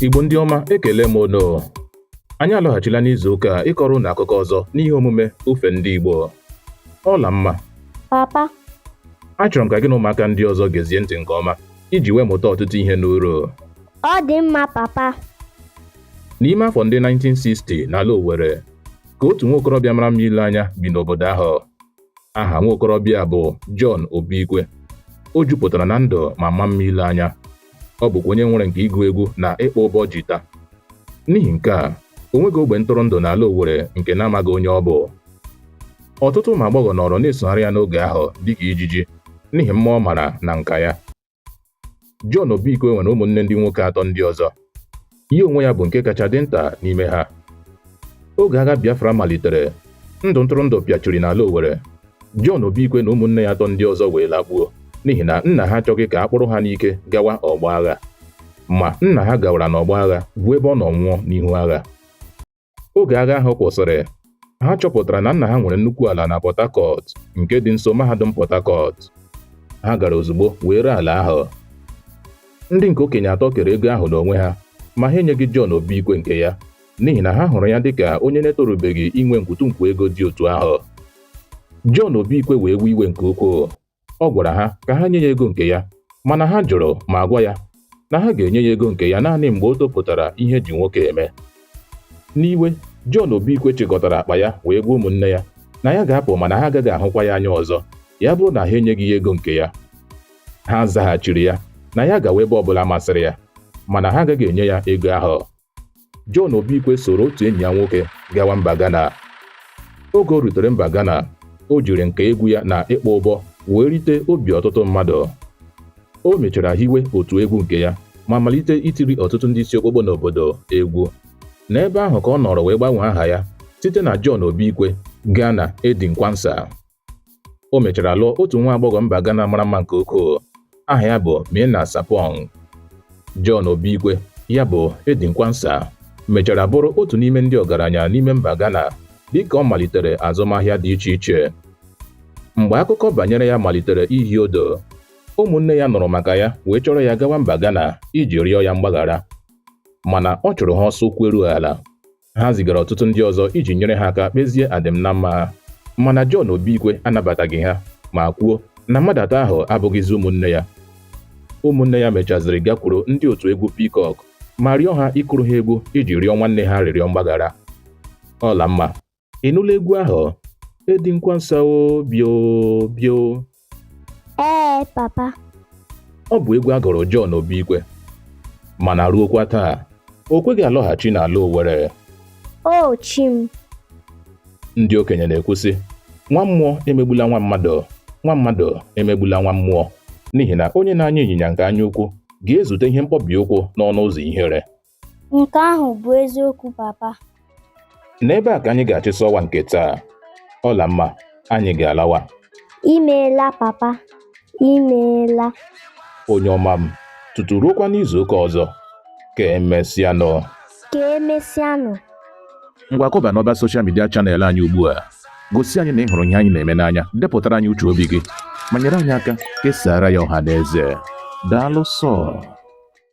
Igbo ndị ọma ekele m unu anyị alọghachila n'izu ụka ịkọrọ unu akụkọ ọzọ n'ihe omume ofe ndị Igbo Ọlamma papa achọrọ m ka gị na ụmụaka ndị ọzọ gezie ntị nke ọma iji wee mụta ọtụtụ ihe n'uru ọ dị mma papa n'ime afọ ndị 1960 n'ala Owerri ka otu nwa okorobịa mara mma ile anya bi n'obodo ahụ aha nwa okorobịa bụ John Obikwe o jupụtara na ndụ ma maa mma ile anya ọ bụkwa onye nwere nka ịgụ egwu na ịkpọ ụbọ jita n'ihi nke a o nweghị ogbe ntụrụndụ n'ala Owerri nke na-amaghị onye ọ bụ ọtụtụ ụmụ agbọghọ nọrọ na-esogharị ya n'oge ahụ dịka ijiji n'ihi mma ọ mara na nka ya John Obikwe nwere ụmụnne ndị nwoke atọ ndị ọzọ ya onwe ya bụ nke kacha dị nta n'ime ha oge agha Biafra malitere ndụ ntụrụndụ pịachiri n'ala Owerri John Obikwe na ụmụnne ya atọ ndị ọzọ wee lakpuo n'ihi na nna ha achọghị ka a kpụrụ ha n'ike gawa ọgbọ agha ma nna ha gawara n'ọgbọ agha bụ ebe ọ nọ nwụọ n'ihu agha oge agha ahụ kwụsịrị ha chọpụtara na nna ha nwere nnukwu ala na Port Harcourt nke dị nso mahadum Port Harcourt ha gara ozugbo wee ree ala ahụ ndị nke okenye atọ kere ego ahụ n'onwe ha ma ha enyeghị John Obikwe nke ya n'ihi na ha hụrụ ya dịka onye na-etorubeghị inwe nkwutunkwu ego dị otu ahụ John Obikwe wee wee iwe nke ukwuu ọ gwara ha ka ha nye ya ego nke ya mana ha jụrụ ma gwa ya na ha ga-enye ya ego nke ya naanị mgbe o topụtara ihe e ji nwoke eme n'iwe John Obikwe chịkọtara akpa ya wee gwa ụmụnne ya na ya ga-apụ mana ha agaghị ahụkwa ya anya ọzọ ya bụrụ na ha enyeghị ya ego nke ya ha zaghachiri ya na ya gawa ebe ọbụla masịrị ya mana ha agaghị enye ya ego ahụ John Obikwe soro otu enyi ya nwoke gawa mba Ghana. Oge o rutere mba Ghana, o jiri nka egwu ya na ịkpọ ụbọ wee rite obi ọtụtụ mmadụ. O mechara hiwe otu egwu nke ya ma malite itiri ọtụtụ ndị isi okpokpo n'obodo egwu. N'ebe ahụ ka ọ nọrọ wee gbanwee aha ya site na John Obikwe gaa na Eddie Quansa. O mechara lụọ otu nwa agbọghọ mba Ghana mara mma nke ukwuu aha ya bụ Mina Sapong. John Obikwe ya bụ Eddie Quansa mechara bụrụ otu n'ime ndị ọgaranya n'ime mba Ghana dịka ọ malitere azụmahịa dị iche iche. Mgbe akụkọ banyere ya malitere ihi ụdụ, ụmụnne ya nụrụ maka ya wee chọrọ ya gawa mba Ghana iji rịọ ya mgbaghara mana ọ chụrụ ha ọsọ ụkwụ eru ala ha zigara ọtụtụ ndị ọzọ iji nyere ha aka kpezie adịm na mma ha mana John Obikwe anabataghị ha ma kwuo na mmadụ atọ ahụ abụghịzi ụmụnne ya ụmụnne ya mechaziri gakwuru ndị otu egwu Peacock ma rịọ ha ịkụrụ ha egwu iji rịọ nwanne ha arịrịọ mgbaghara Ọlamma ị nụla egwu ahụ Eddie Quansa o bịa o bịa o Ee, papa. Ọ bụ egwu a gụrụ John Obikwe mana ruokwa taa o kweghị alọghachi n'ala Owere. O chi m. Ndị okenye na-ekwu sị nwa mmụọ emegbula nwa mmadụ nwa mmadụ emegbula nwa mmụọ n'ihi na onye na-anya ịnyịnya nke anya ukwu ga-ezute ihe mkpọbi ụkwụ n'ọnụ ụzọ ihere Nke ahụ bụ eziokwu papa. N'ebe a ka anyị ga-achịsa ọwa nke taa. Ọlamma, anyị ga-alawa. Imeela papa, imeela. Onye ọma m, tutu ruokwa n'izu ụka ọzọ. Ka emesịanụ. Ka emesịanụ. Ngwa kọba n'ọba soshal midia chanel anyị ugbu a. Gosi anyị na ị hụrụ ihe anyị na-eme n'anya, depụtara anyị uche obi gị, ma nyere anyị aka kesaara ya ọha na eze. Daalụ sọọ.